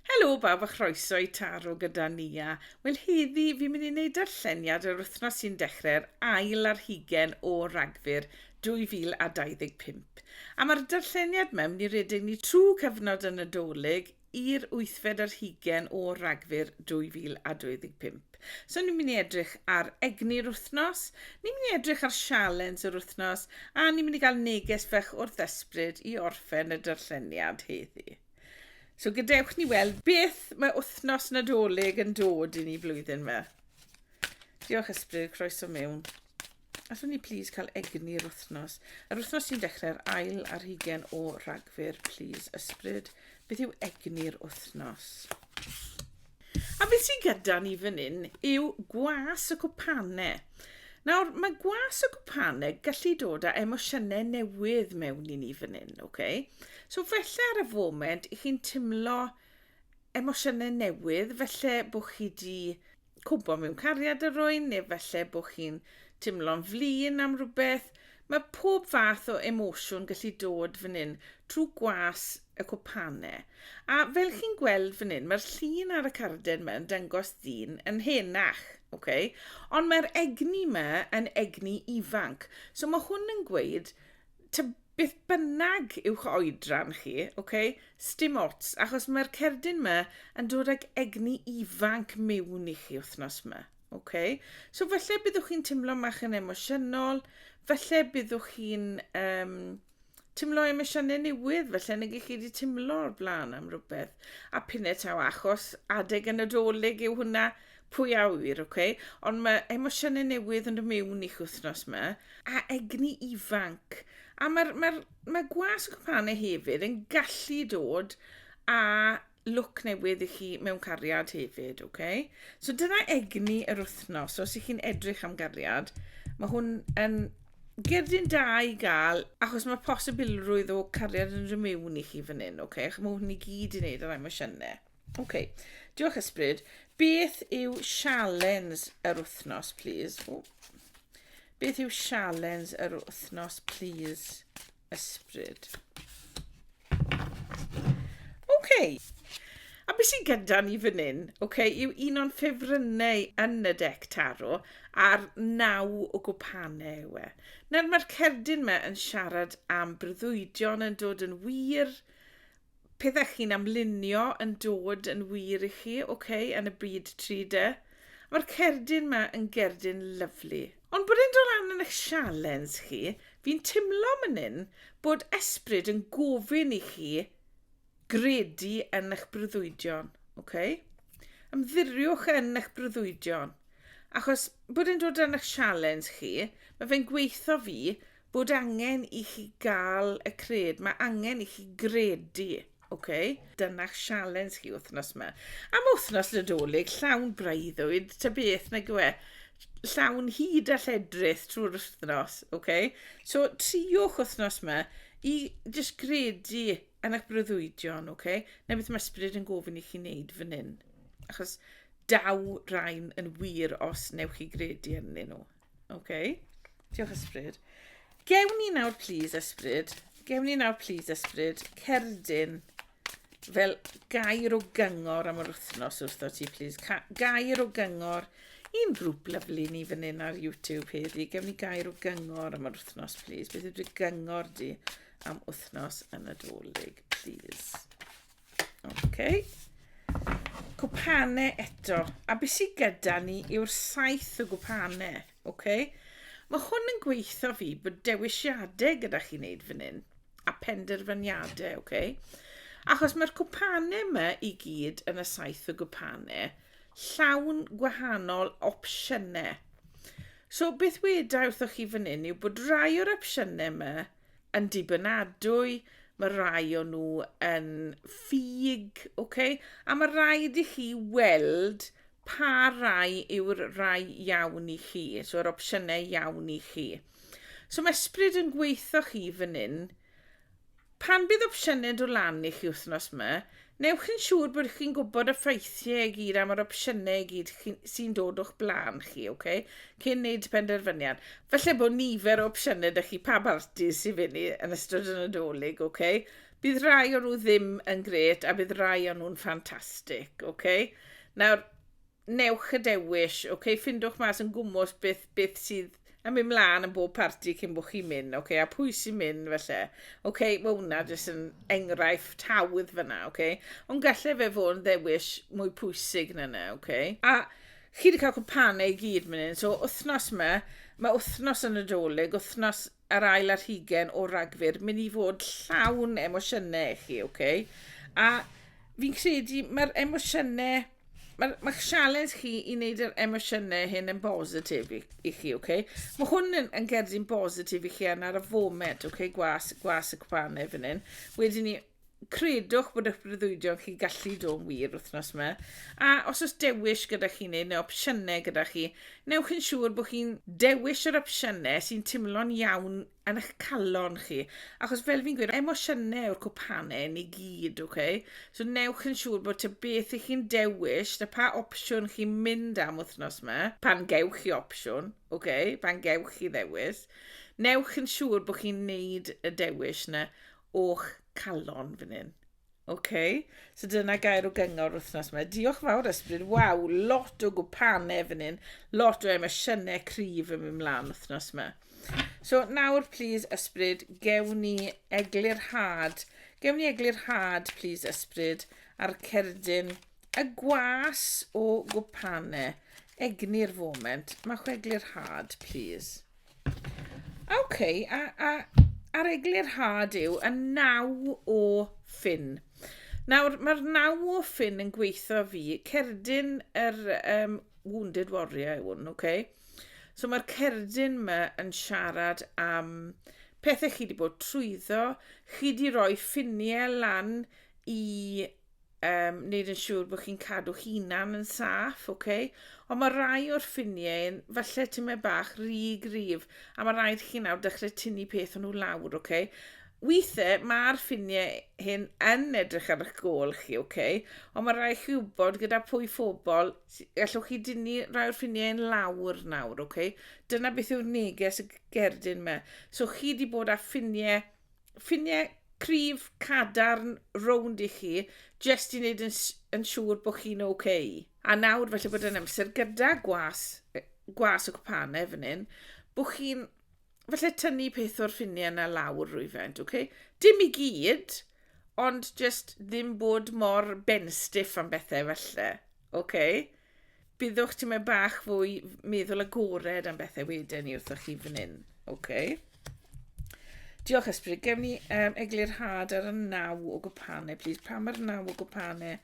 Helo bawb a chroeso i Taro gyda Nia. Wel heddi fi'n mynd i wneud darlleniad yr wythnos sy'n dechrau'r ail ar hugen o Ragfyr 2025. A mae'r darlleniad yma mynd i redeg ni trwy cyfnod y Nadolig i'r wythfed ar hugen o Ragfyr 2025. So ni'n mynd i edrych ar egni'r wythnos, ni'n mynd i edrych ar sialens yr wythnos a ni'n mynd i gael neges fach o'r ddysbryd i orffen y darlleniad heddi. So gadewch ni weld beth mae wythnos nadolig yn dod i ni flwyddyn yma. Diolch ysbryd, croeso mewn. Allwn ni please cael egni'r wythnos. Yr wythnos sy'n dechrau'r ail ar hugen o ragfyr, please ysbryd. Beth yw egni'r wythnos? A beth sydd gyda ni fan hyn yw gwas y cwpane. Nawr, mae gwas y cwpane gallu dod â emosiynau newydd mewn i ni fan hyn, okay? So felly ar y foment, i chi'n timlo emosiynau newydd, felly bod chi wedi cwmpo mewn cariad ar rwy'n, neu felly bod chi'n timlo'n flin am rhywbeth, Mae pob fath o emosiwn gallu dod fan hyn trwy gwas y cwpane. A fel chi'n gweld fan hyn, mae'r llun ar y carden yma yn dangos dyn yn henach, ok? Ond mae'r egni yma yn egni ifanc. So mae hwn yn gweud, ta beth bynnag yw'ch oedran chi, ok? Stim ots, achos mae'r cerdyn yma yn dod ag egni ifanc mewn i chi wythnos yma. Ok, so falle byddwch chi'n teimlo mach yn emosiynol, falle byddwch chi'n um, teimlo emosiynau newydd, falle nag chi wedi teimlo o'r blaen am rhywbeth. A pinne taw achos adeg yn y doleg yw hwnna, pwy a wyr, ok? Ond mae emosiynau newydd yn y mewn i'ch wythnos yma, a egni ifanc. A mae'r mae, mae gwas y cwpanau hefyd yn gallu dod a look newydd i chi mewn cariad hefyd, ok? So dyna egni yr wythnos, so os ych chi'n edrych am gariad, mae hwn yn gerdyn da i gael, achos mae posibilrwydd o cariad yn rhy mewn i chi fan hyn, ok? Ac mae hwn i gyd i wneud ar emosiynau. Ok, diolch ysbryd. Beth yw sialens yr wythnos, please? O. Beth yw sialens yr wythnos, please? ysbryd. OK. A beth sy'n gyda ni fan hyn, OK, yw un o'n ffefrynnau yn y dec taro a'r naw o gwpanau yw e. Nawr mae'r cerdyn yma yn siarad am breuddwydion yn dod yn wir, pethau chi'n amlunio yn dod yn wir i chi, ok, yn y byd 3D. Mae'r cerdyn ma yn gerdyn lyflu. Ond bod e'n dod lan yn eich sialens chi, fi'n timlo man hyn bod esbryd yn gofyn i chi gredu yn eich breuddwydion, ok? Ymddiriwch yn eich breuddwydion. Achos bod e'n dod yn eich sialens chi, mae fe'n gweithio fi, bod angen i chi gael y cred, mae angen i chi gredu, ok? Dyna'ch sialens chi wythnos yma. Am wythnos Nadolig, llawn breuddwyd, ta beth nag yw e, llawn hyd a lledrith trwy'r wythnos, ok? So, triwch wythnos yma i jyst gredu yn eich breuddwydion, ok? Na beth mae ysbryd yn gofyn i chi wneud fan hyn. Achos daw rhain yn wir os newch chi gredu yn nhw. OK. Diolch, Ysbryd. Gewn ni nawr, please, Ysbryd. Gewn ni nawr, please, Ysbryd, cerdyn fel gair o gyngor am yr wythnos wrtho ti, please. Ca gair o gyngor i'n grŵp lyflu ni fan hyn ar YouTube heddi. Gewn ni gair o gyngor am yr wythnos, please. Beth yw'r gyngor di am wythnos yn y dolyg, please? Okay. Cwpane eto. A beth sydd gyda ni yw'r saith o gwpane. Okay. Mae hwn yn gweithio fi bod dewisiadau gyda chi wneud fan hyn. A penderfyniadau, okay. Achos mae'r cwpane yma i gyd yn y saith o gwpane llawn gwahanol opsiynau. So beth weda wrthoch chi fan hyn yw bod rai o'r opsiynau yma yn dibynadwy, mae rai o nhw yn ffug, okay? a mae rhaid i chi weld pa rai yw'r rai iawn i chi, so yr opsiynau iawn i chi. So mae ysbryd yn gweithio chi fan hyn, pan bydd opsiynau do lan i chi wythnos yma, Newch chi'n siŵr bod chi'n gwybod y ffraethiau i gyd am yr opsiynau i gyd sy'n dod o'ch blaen chi, oce? Okay? Cyn wneud penderfyniad. Felly bod nifer o opsiynau dych chi pa barti sy'n fyny yn ystod y Nadolig, oce? Okay? Bydd rai o nhw ddim yn gret a bydd rai o nhw'n ffantastig, oce? Okay? Nawr, newch y dewis, ok, ffindwch mas yn gwmwys beth, beth sydd yn mynd mlaen yn bob parti cyn bod chi'n mynd, ok, a pwy sy'n mynd felly. Ok, mae hwnna jyst yn enghraifft hawdd fyna, ok. Ond gallai fe fod yn ddewis mwy pwysig na yna, ok. A chi wedi cael cwmpanau i gyd mynd hyn, so wythnos yma, mae wythnos yn y dolyg, wythnos yr ail ar hugen o Ragfyr, mynd i fod llawn emosiynau i chi, oce? A fi'n credu mae'r emosiynau mae'r ma sialens chi i wneud yr emosiynau hyn yn bositif i, i chi, oce? Okay? Mae hwn yn, yn gerdyn bositif i chi yn ar y foment, oce, okay? gwas, gwas y cwpanau fan hyn. Wedyn ni, credwch bod eich breuddwydion chi'n gallu dod yn wir wythnos yma. A os oes dewis gyda chi neu, neu opsiynau gyda chi, newch yn siŵr bod chi'n dewis yr opsiynau sy'n teimlo'n iawn yn eich calon chi. Achos fel fi'n gweud, emosiynau yw'r cwpanau yn ei gyd, oce? Okay? So newch yn siŵr bod te beth i chi'n dewis, da pa opsiwn chi'n mynd am wythnos yma, pan gewch chi opsiwn, oce? Okay? Pan gewch chi ddewis. Newch yn siŵr bod chi'n neud y dewis yna o'ch calon fan hyn. OK, so dyna gair o gyngor wythnos yma. Diolch yn fawr, Ysbryd. Waw, lot o gwpanau fan hyn. Lot o emosiynau cryf yn mynd mlaen wythnos yma. So nawr, please, Ysbryd, gewn ni eglurhad. Gewn ni eglurhad, please, Ysbryd, a'r cerdyn y gwas o gwpanau. Egni'r foment. Mae chwe eglurhad, please. OK, a, a a'r eglurhad yw y naw o ffin. Nawr, mae'r naw o ffin yn gweithio fi, cerdyn yr um, Wounded Warrior yw hwn, okay? So mae'r cerdyn yma yn siarad am pethau chi wedi bod trwyddo, chi wedi rhoi ffiniau lan i um, wneud yn siŵr bod chi'n cadw hunan yn saff, oce? Okay? Ond mae rai o'r ffiniau, falle ti'n meddwl bach, rhy grif, a mae rhaid chi nawr dechrau tynnu peth o'n nhw lawr, oce? Okay? Weithiau mae'r ffiniau hyn yn edrych ar eich gol chi, oce? Okay? Ond mae rhaid chi wybod gyda pwy phobl, allwch chi dynnu rhai o'r ffiniau yn lawr nawr, oce? Okay? Dyna beth yw'r neges y gerdyn yma. So chi wedi bod â ffiniau ffiniau cryf cadarn rownd i chi, jyst i wneud yn, yn siŵr bod chi'n oce. Okay. A nawr, felly bod yn amser gyda gwas, gwas o cwpanau fan hyn, bod chi'n felly tynnu peth o'r ffiniau yna lawr rwyfent, oce? Okay? Dim i gyd, ond jyst ddim bod mor benstiff am bethau felly, oce? Okay? Byddwch tymed bach fwy meddwl agored am bethau wedyn ni wrthoch chi fan hyn. OK. Diolch Ysbryd. Gewn ni um, eglurhad ar y naw o gwpanau, plîs. Pa mae'r naw o gwpanau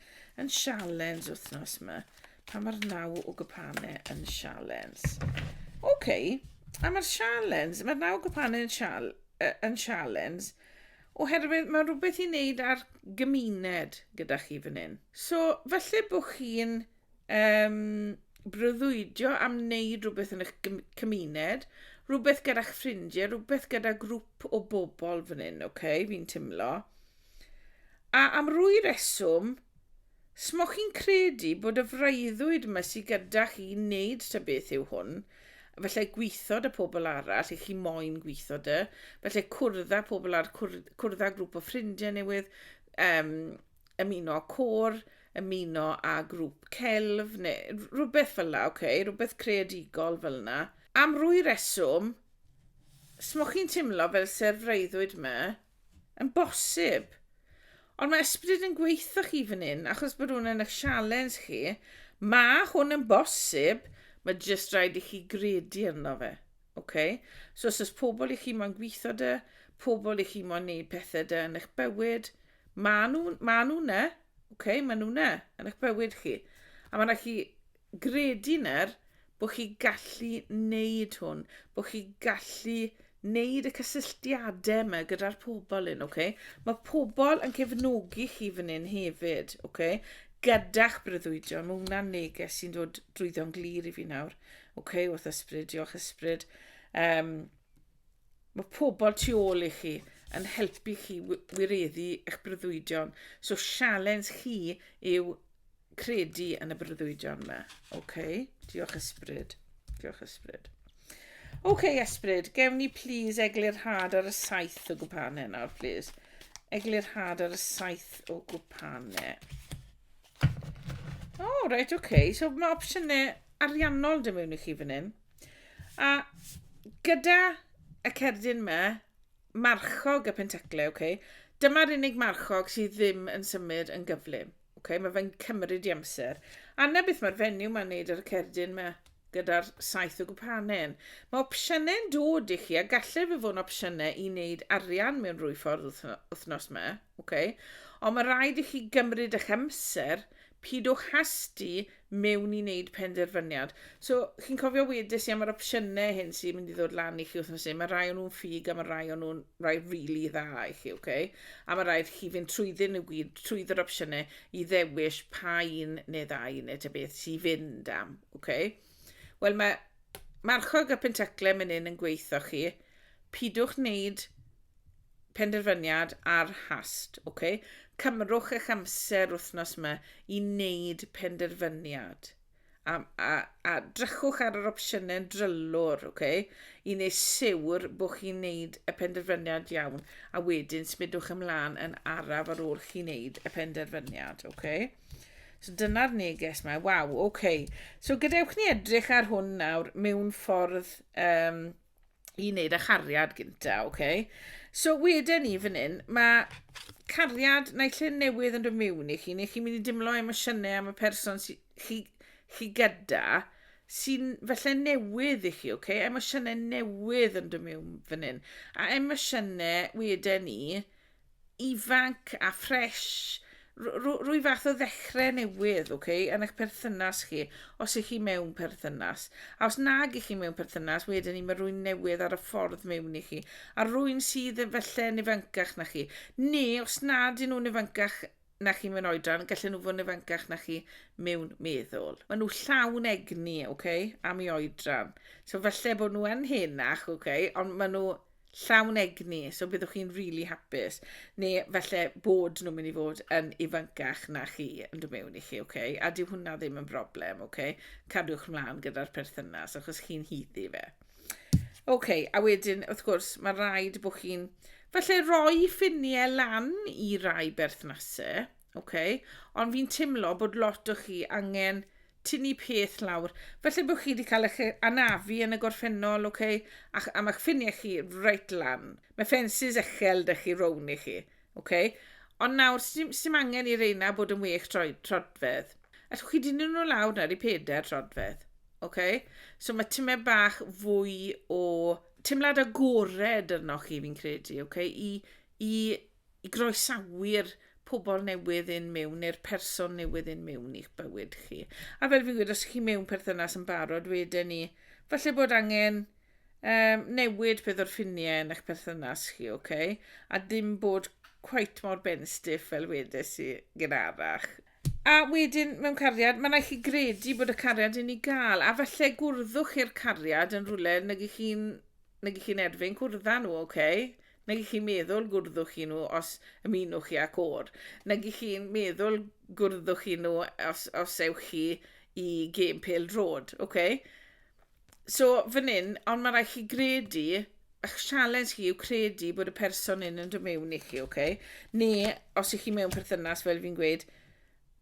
yn sialens wythnos yma? Pa mae'r naw o gwpanau yn sialens? OK. A mae'r sialens, mae'r naw o gwpanau yn, sial, uh, yn sialens, Oherwydd mae'n rhywbeth i wneud â'r gymuned gyda chi fan hyn. So, falle bod chi'n um, breuddwydio am wneud rhywbeth yn eich cymuned, rhywbeth gyda'ch ffrindiau, rhywbeth gyda grŵp o bobl fan hyn, oce, okay, fi'n timlo. A am rwy reswm, Smoch chi'n credu bod y freuddwyd ma sy gyda chi wneud ta beth yw hwn, efallai gweitho da pobl arall i chi moyn gweitho da, efallai cwrdd pobl ar cwrdd, cwrdd grŵp o ffrindiau newydd, um, ymuno â côr, ymuno â grŵp celf, neu rhywbeth fel la, okay? rhywbeth creadigol fel yna. Am rwy reswm, smoch chi'n timlo fel se'r freuddwyd ma, Yn bosib. Ond mae ysbryd yn gweithio chi fan hyn, achos bod hwn yn eich sialens chi. Mae hwn yn bosib, mae jyst rhaid i chi gredu arno fe. Okay? So os oes pobl i chi mo'n gweithio dy, pobl i chi mo'n neud pethau dy yn eich bywyd, maen nhw, maen nhw ne, okay? maen nhw ne, yn eich bywyd chi. A mae'n rhaid chi gredu nawr bod chi gallu wneud hwn, bod chi gallu wneud y cysylltiadau yma gyda'r pobl hyn, ok? Mae pobl yn cefnogi chi fan hyn hefyd, ok? Gyda'ch breuddwydion, mae hwnna'n neges sy'n dod drwyddo'n glir i fi nawr, ok? Wrth ysbryd, diolch ysbryd. Um, Mae pobl tu ôl i chi yn helpu chi wireddu eich breuddwydion. So sialens chi yw credu yn y breuddwydion yma. Okay. Diolch ysbryd. Diolch ysbryd. OK, ysbryd, gewn ni please eglurhad ar y saith o gwpanau nawr, please. Eglurhad ar y saith o gwpanau. O, oh, reit, OK. So mae opsiynau ariannol dim mewn i chi fan hyn. A gyda y cerdyn yma, marchog y pentaclau, okay? dyma'r unig marchog sydd ddim yn symud yn gyflym. Okay? Mae fe'n cymryd i amser. A na beth mae'r fenyw mae'n neud ar y cerdyn yma gyda'r saith o gwpanen. Mae opsiynau'n dod i chi a gallai fe fod yn opsiynau i wneud arian mewn rwy ffordd wythnos yma. Okay? Ond mae rhaid i chi gymryd eich amser, pidwch hasti mewn i wneud penderfyniad. So, chi'n cofio wedes i am yr opsiynau hyn sy'n mynd i ddod lan i chi wythnos hyn, mae rai o'n nhw'n ffug a mae rai o'n nhw'n rai rili really dda i chi, oce? Okay? A mae rhaid chi fynd trwyddyn nhw gyd, trwydd yr opsiynau, i ddewis pa un neu ddau neu ta beth sy'n fynd am, oce? Okay? Wel, mae marchog a pentaclau mynd hyn yn gweithio chi, pidwch wneud penderfyniad ar hast, ok? Cymrwch eich amser wythnos yma i wneud penderfyniad. A, a, a drychwch ar yr opsiynau drylwr, ok? I wneud siwr bod chi'n wneud y penderfyniad iawn, a wedyn smidwch ymlaen yn araf ar ôl chi'n wneud y penderfyniad, ok? So dyna'r neges yma. Waw, ok. So gadewch ni edrych ar hwn nawr mewn ffordd um, i wneud â chariad gynta, oce? Okay? So wedyn ni fan hyn, mae cariad neu lle newydd yn dod mewn i chi, neu chi'n mynd i dimlo emosiynau am y person sy, chi, chi gyda, sy'n felly newydd i chi, oce? Okay? Emosiynau newydd yn dod mewn fan hyn. A emosiynau wedyn ni, ifanc a ffresh, rwy fath o ddechrau newydd, ok, yn eich perthynas chi, os ych chi mewn perthynas. A os nag ych chi mewn perthynas, wedyn ni mae rwy'n newydd ar y ffordd mewn i chi, a rwy'n sydd efallai yn ifancach na chi, neu os nad yn nhw'n ifancach na chi mewn oedran, gallen nhw fod yn ifancach na chi mewn meddwl. Maen nhw llawn egni, oce, okay, am i oedran. So falle bod nhw yn henach, oce, okay, ond maen nhw llawn egni, so byddwch chi'n rili really hapus. Neu falle bod nhw'n mynd i fod yn ifancach na chi yn dod mewn i chi, oce? Okay? A dyw hwnna ddim yn broblem, oce? Okay? Cadwch mlaen gyda'r perthynas achos chi'n hyddi fe. Oce, okay, a wedyn, wrth gwrs, mae rhaid bod chi'n... Felly, roi ffiniau lan i rai berthnasau, okay? ond fi'n teimlo bod lot o chi angen tynnu peth lawr. Felly bod chi wedi cael eich anafu yn y gorffennol, okay? a, a mae'ch ffiniau chi reit lan. Mae ffensys echel dych chi rown i chi. Oce, ond nawr, sdim, sdim angen i reina bod yn wech troi, trodfedd. Allwch chi dynnu nhw lawr nawr i peder trodfedd. Oce? So mae tymed bach fwy o teimlad agored arnoch chi, fi'n credu, oce? I, i, i groesawu'r pobl newydd un mewn neu'r person newydd un mewn i'ch bywyd chi. A fel fi'n gweud, os ydych chi mewn perthynas yn barod, wedyn ni, falle bod angen Yym, newid peth o'r ffiniau yn eich perthynas chi, oce? Okay? A dim bod quite mor ben stiff fel wedes i gynharach. A wedyn, mewn cariad, mae'n rhaid chi gredu bod y cariad yn ei gael, a falle gwrddwch i'r cariad yn rhywle nag i chi'n nag i chi'n erfyn cwrdda nhw, oce? Okay? Nag i chi'n meddwl gwrddwch i nhw os ymunwch chi â côr. Nag i chi'n meddwl gwrddwch i nhw os, os ewch chi i gêm pel drod, oce? Okay? So, fan hyn, ond mae rhaid chi gredu, ych sialens chi yw credu bod y person hyn yn dod mewn i chi, oce? Okay? Neu, os ych chi mewn perthynas, fel fi'n gweud,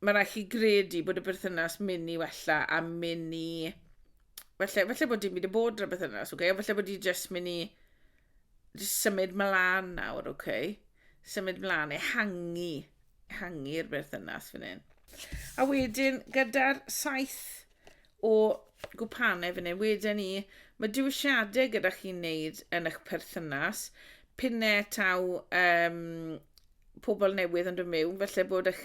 mae rhaid chi gredu bod y perthynas mynd i wella a mynd i... Felly, felly bod dim byd y bod yn y perthynas, oce? Okay? Felly bod i jyst mynd i... Just symud mlaen nawr, oce? Okay? Symud mlaen, ehangu. Ehangu'r berthynas fan hyn. A wedyn, gyda'r saith o gwpanau fan hyn. Wedyn ni, mae diwysiadau gyda chi'n wneud yn eich perthynas, pinne taw um, pobl newydd yn dod mewn, felly bod eich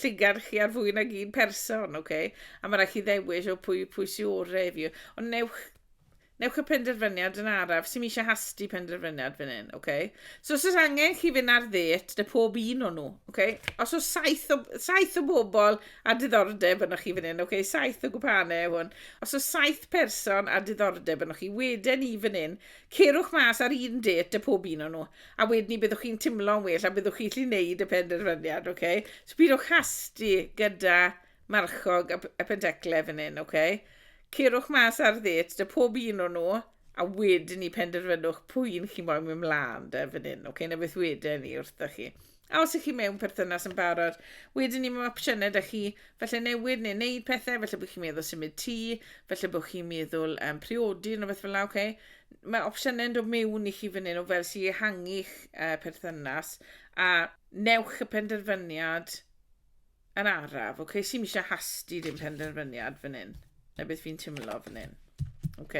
llygad chi ar fwy nag un person, oce? Okay? A mae rhaid chi ddewis o pwy, pwy sy'n orau i fi. Ond newch Newch y penderfyniad yn araf. Sim eisiau hasti penderfyniad fan hyn, oce? So os oes angen chi fynd ar ddet, dy pob un o'n nhw, oce? Os oes saith o, saith o bobl a diddordeb yno chi fan hyn, oce? Saith o gwpanau yw hwn. Os oes saith person a diddordeb yno chi, wedyn i fan hyn, cerwch mas ar un det dy pob un o'n nhw. A wedyn ni byddwch chi'n timlo'n well a byddwch chi'n lli wneud y penderfyniad, oce? So pidwch hasti gyda marchog a, a pendecle fan hyn, oce? Okay? Cerwch mas ar ddêt dy pob un o'n nhw, a wedyn ni penderfynwch pwy un chi moyn mynd mlaen dy fan hyn, oce? Okay? Na beth wedyn ni wrthoch chi. A os ych chi mewn perthynas yn barod, wedyn ni mewn opsiynau da chi, felly newid neu wneud pethau, felly bod chi'n meddwl symud tŷ, felly bod chi'n meddwl um, priodi neu beth fel yna, okay? Mae opsiynau yn dod mewn i chi fan hyn o fel sy'n ehangu'ch uh, perthynas, a newch y penderfyniad Yn araf, ok, sy'n eisiau hasti dim penderfyniad fan hyn. Na beth fi'n timlo fan hyn. Ok.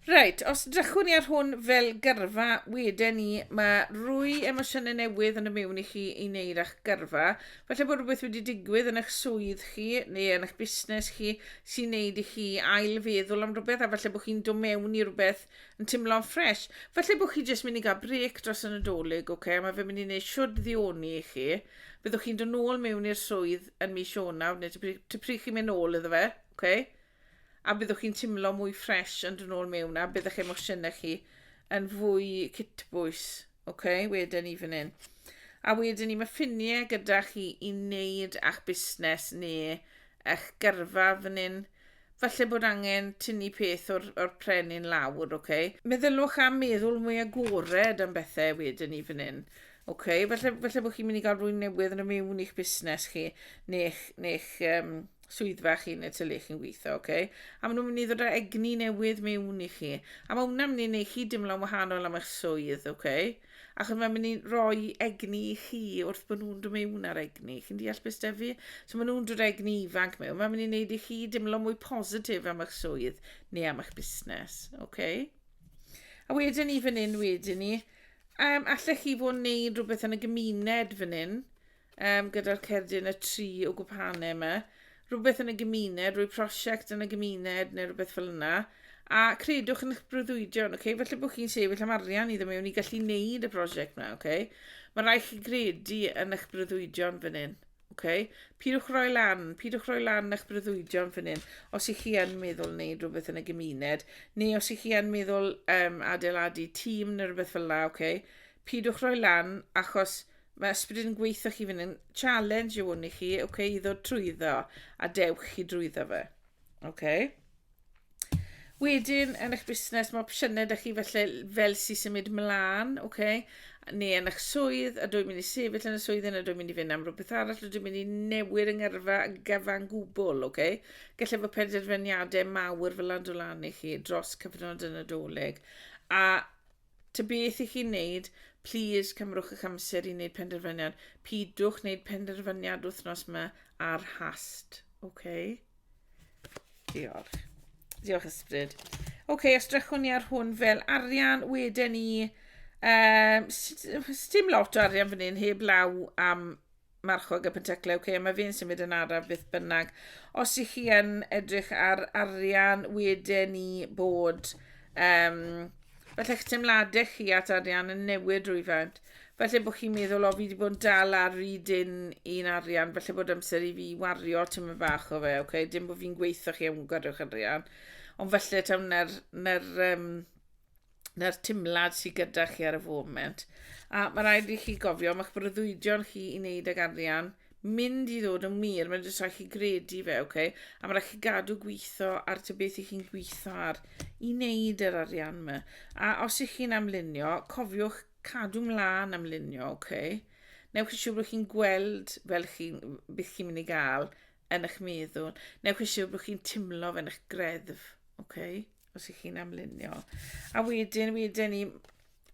Reit, os drychwn i ar hwn fel gyrfa, wedyn ni, mae rwy emosiynau newydd yn y mewn i chi i wneud â'ch gyrfa. Felly bod rhywbeth wedi digwydd yn eich swydd chi neu yn eich busnes chi sy'n wneud i chi ailfeddwl am rhywbeth a felly bod chi'n dod mewn i rhywbeth Yn teimlo'n ffres. Felly bod chi jyst mynd i gael brec dros y Nadolig, oce? Okay? Mae fe mynd i wneud siwr ddioni i chi. Byddwch chi'n dod nôl mewn i'r swydd yn mis Ionawr, neu ty pryd chi'n mynd nôl iddo fe, oce? Okay? A byddwch chi'n teimlo mwy ffres yn dod nôl mewn, a byddwch emosiynau chi yn fwy cytbwys, oce? Okay? Wedyn ni fan hyn. A wedyn ni, mae ffiniau gyda chi i wneud a'ch busnes neu eich gyrfa fan hyn. Falle bod angen tynnu peth o'r, or pren in lawr, ok? Meddyliwch am meddwl mwy agored am bethau wedyn i fan hyn. Ok, falle, falle bod chi'n mynd i gael rwy'n newydd yn y mewn i'ch busnes chi, neu'ch, neu'ch um, swyddfa chi neu ty le chi'n gweithio, ok? A maen nhw'n mynd i ddod â egni newydd mewn i chi. A mae hwnna'n mynd i wneud chi dimlo'n wahanol am eich swydd, ok? Achos mae'n mynd i roi egni i chi wrth bod nhw'n dod mewn ar egni. Chi'n deall beth da fi? So maen nhw'n dod egni ifanc mewn. Mae'n mynd i wneud i chi dimlo mwy positif am eich swydd neu am eich busnes. Okay? A wedyn ni fan hyn wedyn ni, um, allech chi fod yn neud rhywbeth yn y gymuned fan hyn, um, gyda'r cerdyn y tri o gwpane yma, rhywbeth yn y gymuned, rwy prosiect yn y gymuned neu rhywbeth fel yna, a credwch yn eich brwydwydion, okay? felly bod chi'n sefyll am arian iddo mewn i gallu neud y prosiect yna, okay? mae rhaid chi gredu yn eich brwydwydion fan hyn. Okay? Pidwch roi lan, pidwch roi lan eich brwydwydion fan hyn, os ych chi yn meddwl wneud rhywbeth yn y gymuned, neu os ych chi yn meddwl um, adeiladu tîm neu rhywbeth fel la, okay? pidwch roi lan, achos mae ysbryd yn gweithio chi fynd yn challenge yw hwn i chi, ok, i ddod trwyddo, a dewch chi drwyddo fe. Ok. Wedyn, yn eich busnes, mae opsiynau da chi felly fel sy'n symud mlaen, ok, neu yn eich swydd, a dwi'n mynd i sefyll yn y swydd yna, dwi'n mynd i fynd am rhywbeth arall, dwi'n mynd i newid yng ngyrfa gyfan gwbl, ok. Gallai fod penderfyniadau mawr fel adolanu chi dros cyfnod y Nadolig, a Ta beth i chi'n neud, plîs cymrwch eich amser i wneud penderfyniad. Pidwch wneud penderfyniad wythnos ma ar hast. OK? Diolch. Diolch ysbryd. OK, os drychwn ni ar hwn fel arian, wedyn ni... Um, Stim lot o arian fan hyn, heb law am marchog y penteclau, okay, mae fi'n symud yn araf beth bynnag. Os i chi yn edrych ar arian, wedyn ni bod um, falle eich teimladau chi at arian yn newid rhywfaint. Falle bod chi'n meddwl, o, fi wedi bod yn dal ar ryd un, un arian, falle bod amser i fi wario tîm y bach o fe, oce? Okay? Dim bod fi'n gweithio chi am gwario'ch arian, ond falle taw na'r, na'r um, na'r timlad sydd gyda chi ar y foment. A mae rhaid i chi gofio, mae'ch breuddwydion chi i wneud ag arian mynd i ddod yn wir, mae'n jyst rhaid chi gredu fe, oce? Okay? A mae rhaid chi gadw gweithio ar ty beth i chi'n gweithio ar i wneud yr arian yma. A os ych chi'n amlunio, cofiwch cadw mlaen amlunio, oce? Okay? Newch chi siŵr bod chi'n gweld fel chi, beth chi'n mynd i gael yn eich meddwl. Newch chi siŵr bod chi'n timlo fe yn eich greddf, oce? Okay? os ych chi'n amlunio. A wedyn, wedyn ni,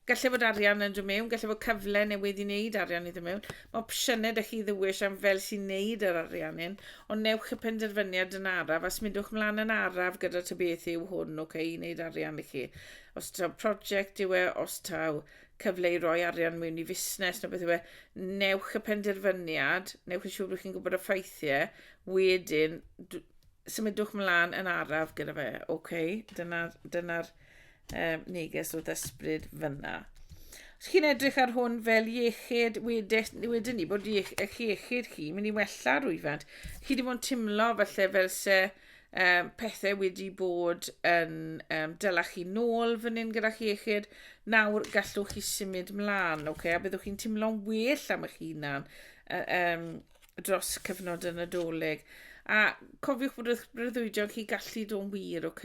gallai fod arian yn dod mewn, gallai fod cyfle newydd i wneud arian i ddod mewn. Mae opsiynau ydych chi ddewish am fel sy'n wneud yr arian hyn, ond newch y penderfyniad yn araf, a smidwch mlaen yn araf gyda ta beth yw hwn, ok, i wneud arian i chi. Os taw prosiect yw e, os taw cyfle i roi arian mewn i fusnes neu beth yw e, newch y penderfyniad, newch yn siŵr bod chi'n gwybod y ffeithiau, wedyn symudwch mlaen yn araf gyda fe. OK, dyna'r dyna um, neges o ddysbryd fyna. Os chi'n edrych ar hwn fel iechyd, wedyn ni bod eich iechyd chi mynd i wella rwyfant. Chi wedi bod yn timlo falle fel se um, pethau wedi bod yn um, dyla chi nôl fan hyn gyda chi iechyd. Nawr gallwch chi symud mlaen, okay? a byddwch chi'n timlo'n well am eich hunan um, dros cyfnod y Nadolig. A cofiwch bod eich breuddwydion chi gallu dod wir, ok?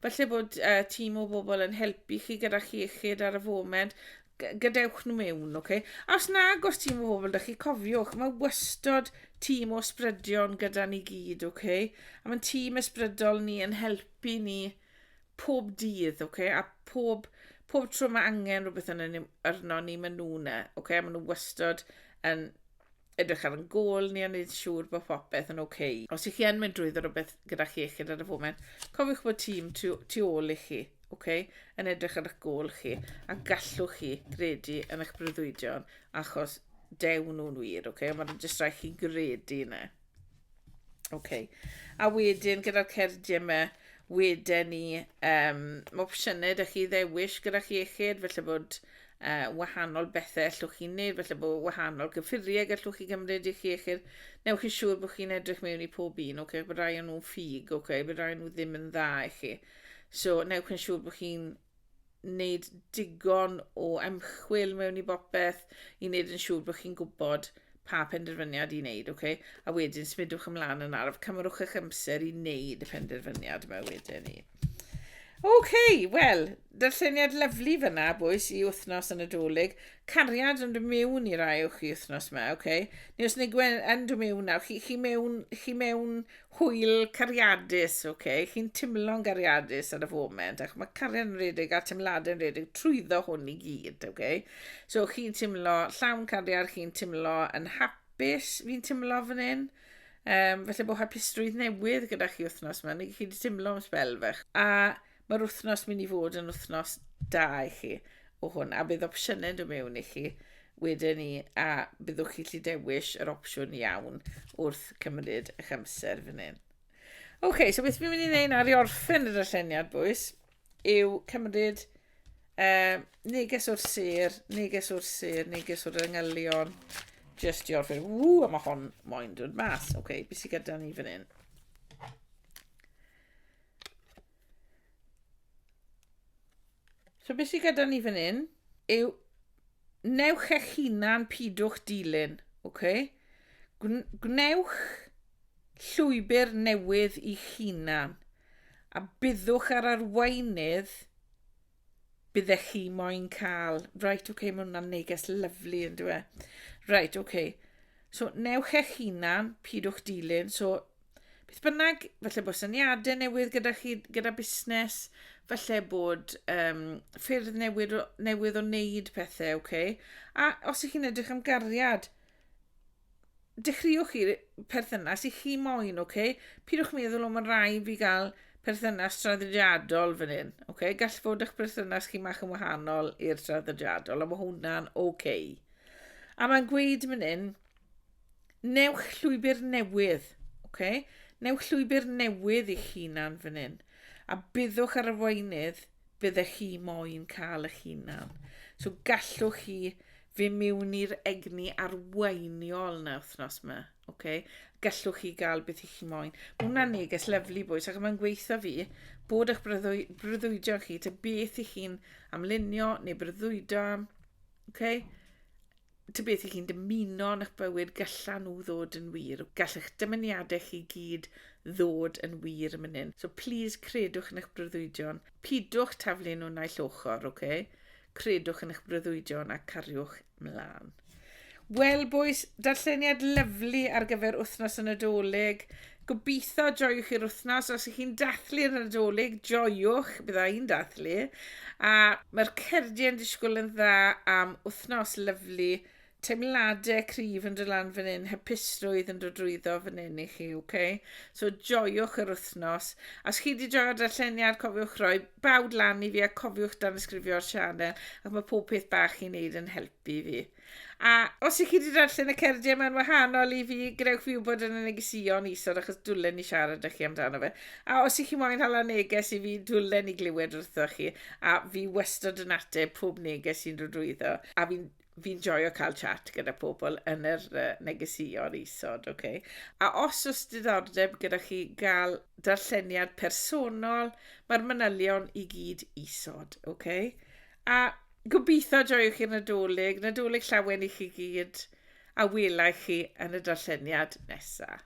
Felly bod uh, tîm o bobl yn helpu chi gyda chi iechyd ar y foment, gadewch nhw mewn, ok? A os nag os tîm o bobl, da chi cofiwch, mae wystod tîm o sbrydion gyda ni gyd, ok? A mae'n tîm ysbrydol ni yn helpu ni pob dydd, ok? A pob, pob tro mae angen rhywbeth yn arno ni, maen nhw'n e, ok? Maen nhw wystod yn edrych ar yn gôl ni a wneud siŵr bod popeth yn oce. Okay. Os ych chi yn mynd drwyddo rhywbeth gyda chi iechyd ar y foment, cofiwch bod tîm tu, tu ôl i chi, okay, yn edrych ar eich gôl chi, a gallwch chi gredu yn eich breuddwydion, achos dew nhw'n wir, okay? ond mae'n jyst rhaid chi gredu yna. Okay. A wedyn gyda'r cerdiau yma, wedyn ni um, opsiynau da chi ddewis gyda chi iechyd, felly bod uh, wahanol bethau allwch chi wneud, felly bod wahanol gyffuriau gallwch chi gymryd i chi, eich newch chi siŵr bod chi'n edrych mewn i pob un, okay, bod rai o'n nhw'n ffug, okay, bod rai o'n nhw ddim yn dda i chi. So, newch chi'n siŵr bod chi'n wneud digon o ymchwil mewn i bopeth i wneud yn siŵr bod chi'n gwybod pa penderfyniad i wneud, okay? a wedyn smidwch ymlaen yn araf, cymrwch eich amser i wneud y penderfyniad yma wedyn ni. OK, wel, darlleniad lyflu fyna, bwys, i wythnos yn y dolyg. Cariad yn dod mewn i rai o'ch chi wythnos yma, OK? Neu os neu yn dod mewn nawr, chi, chi, mewn, chi mewn hwyl cariadus, OK? Chi'n timlo'n gariadus ar y foment, ac mae cariad yn redig a timladau yn redig trwyddo hwn i gyd, OK? So chi'n timlo llawn cariad, chi'n timlo yn hapus, fi'n timlo fan hyn. Um, felly bod hapusrwydd newydd gyda chi wythnos yma, neu chi wedi teimlo am spel fach. A mae'r wythnos mynd i fod yn wythnos da i chi o hwn, a bydd opsiynau yn dod mewn i chi wedyn ni, a byddwch chi lli dewis yr opsiwn iawn wrth cymryd eich amser fan hyn. OK, so beth fi'n mynd i wneud nawr i orffen y darlleniad, bwys? yw cymryd uh, neges o'r sir, neges o'r sir, neges o'r yngylion, just i orffen. Ww, a mae hon moyn dod mas. Oce, okay, beth sy'n gyda ni fan hyn? So beth sy'n gyda ni fan hyn yw newch eich hunan pidwch dilyn. Okay? Gwnewch llwybr newydd i'ch hunan. A byddwch ar arweinydd bydde chi moyn cael. Right, oce, okay, mae hwnna'n neges lyflu yn dwi. Right, oce. Okay. So, newch eich hunan, pidwch dilyn. So, beth bynnag, felly bod syniadau newydd gyda chi, gyda busnes, felly bod um, ffyrdd newydd, newydd o wneud pethau, oce. Okay? A os ych chi'n edrych am gariad, dechreuwch chi'r perthynas i chi moyn, oce? Okay? Pidwch meddwl, o, mae'n rhai fi gael perthynas traddodiadol fan hyn, oce? Okay? Gall fod eich perthynas chi mach yn wahanol i'r traddodiadol, a mae hwnna'n oce. Okay. A mae'n gweud fan hyn, newch llwybr newydd, oce? Okay? Newch llwybr newydd i'ch hunan fan hyn, a byddwch ar y weinydd byddech chi moyn cael eich hunan. So gallwch chi fy miwn i'r egni arweiniol na wythnos yma. Okay? Gallwch chi gael beth i chi moyn. Mae hwnna'n neges lyflu bwys ac mae'n gweithio fi bod eich brydwy, brydwydio chi, te beth i chi'n amlunio neu brydwydo am. Okay? ta beth i chi'n dymuno yn eich bywyd galla nhw ddod yn wir. Gall eich dymuniadau chi gyd ddod yn wir yn mynd hyn. So please credwch yn eich breuddwydion. Pidwch taflu nhw naill ochr, oce? Okay? Credwch yn eich breuddwydion a cariwch mlaen. Wel, boys, darlleniad lyflu ar gyfer wythnos y Nadolig. Gobeithio joiwch i'r wythnos. Os ych chi'n dathlu'r Nadolig, joiwch, bydda i'n dathlu. A mae'r cerdyn disgwyl yn dda am wythnos lyflu. Teimladau cryf yn dod lan fan hyn, hypusrwydd yn dod drwyddo fan hyn i chi, oce? Okay? So joiwch yr wythnos. A os chi wedi joio'r darlleniad, cofiwch roi bawd lan i fi a cofiwch dan ysgrifio'r sianel, ac mae pob peth bach i'n neud yn helpu fi. A os ych chi wedi darllen y cerdiau yma'n wahanol i fi, gwnewch fi wybod yn y negesion isod achos dwlen ni siarad â chi amdano fe. A os ych chi moyn hala neges i fi, dwlen ni glywed wrtho chi. A fi wastod yn ateb pob neges sy'n dod drwyddo. A fi'n fi'n joio cael chat gyda pobl yn yr uh, negesïon isod, okay? A os oes diddordeb gyda chi gael darlleniad personol, mae'r manylion i gyd isod, okay? A gobeithio joiwch chi'r Nadolig, Nadolig llawen i chi gyd, a welai chi yn y darlleniad nesaf.